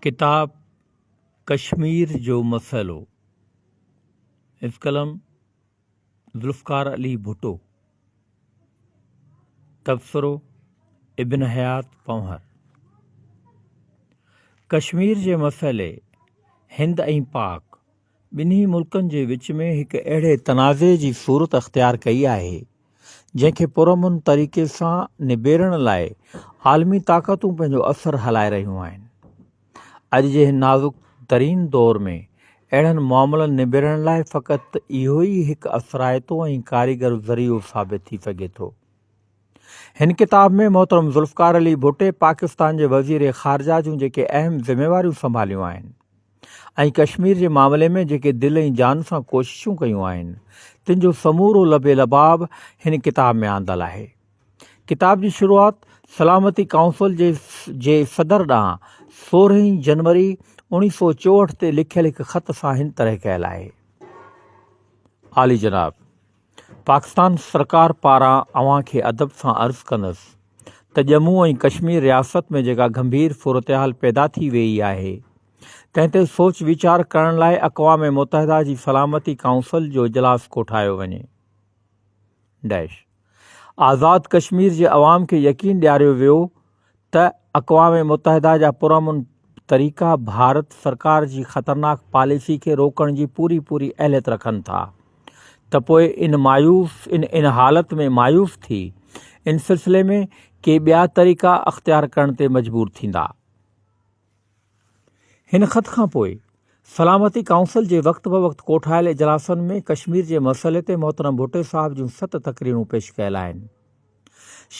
ڪتاب ڪشمير جو مسئلو، حفظ قلم ذوالفقار علي ڀٽو، تبصرو ابن حيات پنهور، ڪشمير جي مسئلي هند ۽ پاڪ ٻنهي ملڪن جي وچ ۾ هڪ اهڙي تنازعي جي صورت اختيار ڪئي آهي، جنهن کي پرامن طريقي سان نبيرڻ لاء عالمي طاقتون پنهنجو اثر هلائي رهيون آهن. اڄ جي هن نازڪ ترين دور ۾ اهڙن معاملن نبيرڻ لاء فقط اهو ئي هڪ اثرائتو ۽ ڪاريگر ذريعو ثابت ٿي سگهي ٿو. هن ڪتاب ۾ محترم ذوالفقار علي ڀٽي پاڪستان جي وزير خارجه جون جيڪي اهم ذميواريون سنڀاليون آهن، ۽ ڪشمير جي معاملي ۾ جيڪي دل ۽ جان سان ڪوششون ڪيون آهن، تن جو سمورو لب ۽ لباب هن ڪتاب ۾ آندل آهي. ڪتاب جي شروعات سلامتي ڪائونسل جي جي صدر ڏانهن سورهين جنوري اوڻيهه سؤ چوهٺ تي لکيل هڪ خط سان هن طرح ڪيل آهي. عالي جناب! پاڪستان سرڪار پاران اوهان کي ادب سان عرض ڪندس ته ڄمون ۽ ڪشمير رياست ۾ جيڪا گنڀير صورتحال پيدا ٿي ويئي آهي، تنهن تي سوچ ويچار ڪرڻ لاء اقوام متحده جي سلامتي ڪائونسل جو اجلاس ڪوٺايو وڃي. آزاد ڪشمير جي عوام کي يقين ڏياريو ويو ته اقوام متحده جا پرامن طريقا ڀارت سرڪار جي خطرناڪ پاليسي کي روڪڻ جي پوري پوري اهليت رکن ٿا ته پوء ان مايوس ان ان حالت ۾ مايوس ٿي ان سلسلي ۾ ڪي ٻيا طريقا اختيار ڪرڻ تي مجبور ٿيندا. هن خط کان پوء سلامتي ڪائونسل جي وقت بوقت ڪوٺايل اجلاسن ۾ ڪشمير جي مسئلي تي محترم ڀٽو صاحب جون ست تقريرون پيش ڪيل آهن.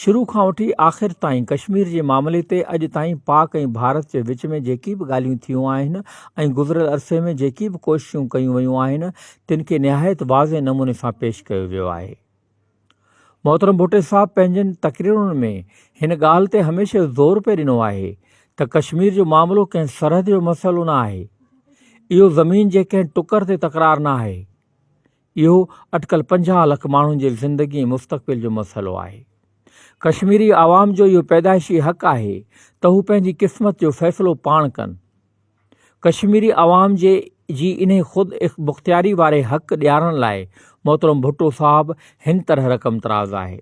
شروع کان وٺي آخر تائين ڪشمير جي معاملي تي اڄ تائين پاڪ ۽ ڀارت جي وچ ۾ جيڪي به ڳالهيون ٿيون آهن ۽ گذريل عرصي ۾ جيڪي به ڪوششون ڪيون ويون آهن تن کي نهايت واضح نموني سان پيش ڪيو ويو آهي. محترم ڀٽي صاحب پنهنجين تقريرن ۾ هن ڳالهه تي هميشه زور پئي ڏنو آهي ته ڪشمير جو معاملو ڪنهن سرحد جو مسئلو نه آهي، اهو زمين جي ڪنهن ٽڪر تي تڪرار نه آهي، اهو اٽڪل پنجاهه لک ماڻهن جي زندگي ۽ مستقبل جو مسئلو آهي. ڪشميري عوام جو اهو پيدائشي حق آهي ته هو پنهنجي قسمت جو فيصلو پاڻ ڪن. ڪشميري عوام جي جي انهي خود مختياري واري حق ڏيارڻ لاء محترم ڀٽو صاحب هن طرح رقم تراز آهي.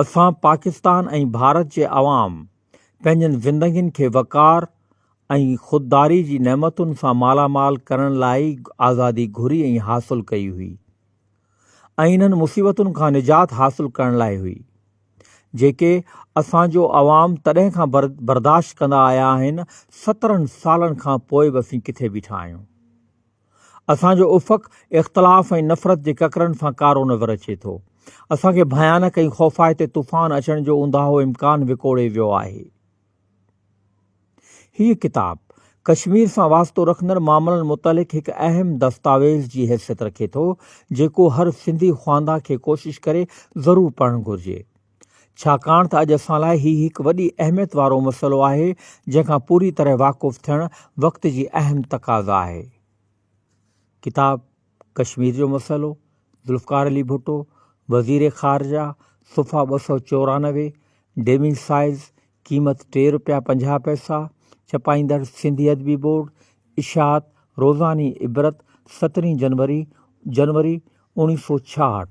اسان پاڪستان ۽ ڀارت جي عوام پنهنجن زندگين کي وقار ۽ خودداري جي نعمتن سان مالامال ڪرڻ لاء ئي آزادي گهري ۽ حاصل ڪئي هئي. ۽ انهن مصيبتن کان نجات حاصل ڪرڻ لاء هئي جيڪي اسان جو عوام تڏهن کان برداشت ڪندا آيا آهن سترهن سالن کان پوء به اسين ڪٿي بيٺا آهيون اسان جو افق اختلاف ۽ نفرت جي ڪڪرن سان ڪارو نظر اچي ٿو اسان کي ڀيانڪ ۽ خوفائتي طوفان اچڻ جو اونداهو امڪان وڪوڙي ويو آهي. هيء ڪتاب، ڪشمير سان واسطو رکندڙ معاملن متعلق هڪ اهم دستاويز جي حيثيت رکي ٿو، جيڪو هر سنڌي خواندان کي ڪوشش ڪري ضرور پڙهڻ گهرجي. ڇاڪاڻ ته اڄ اسان لاء هي هڪ وڏي اهميت وارو مسئلو آهي، جنهن کان پوري طرح واقف ٿيڻ وقت جي اهم تقاضا آهي. ڪتاب ڪشمير جو مسئلو، ذوالفقار علي ڀٽو، وزير خارجه، صفحا ٻه سؤ چورانوي، ڊيمنگ سائيز، قيمت ٽي رپيا پنجاهه پئسا، ڇپائيندڙ سنڌي ادبي بورڊ، اشاعت، روزاني عبرت، سترهين جنوري، جنوري، اوڻيهه سؤ ڇاهٺ.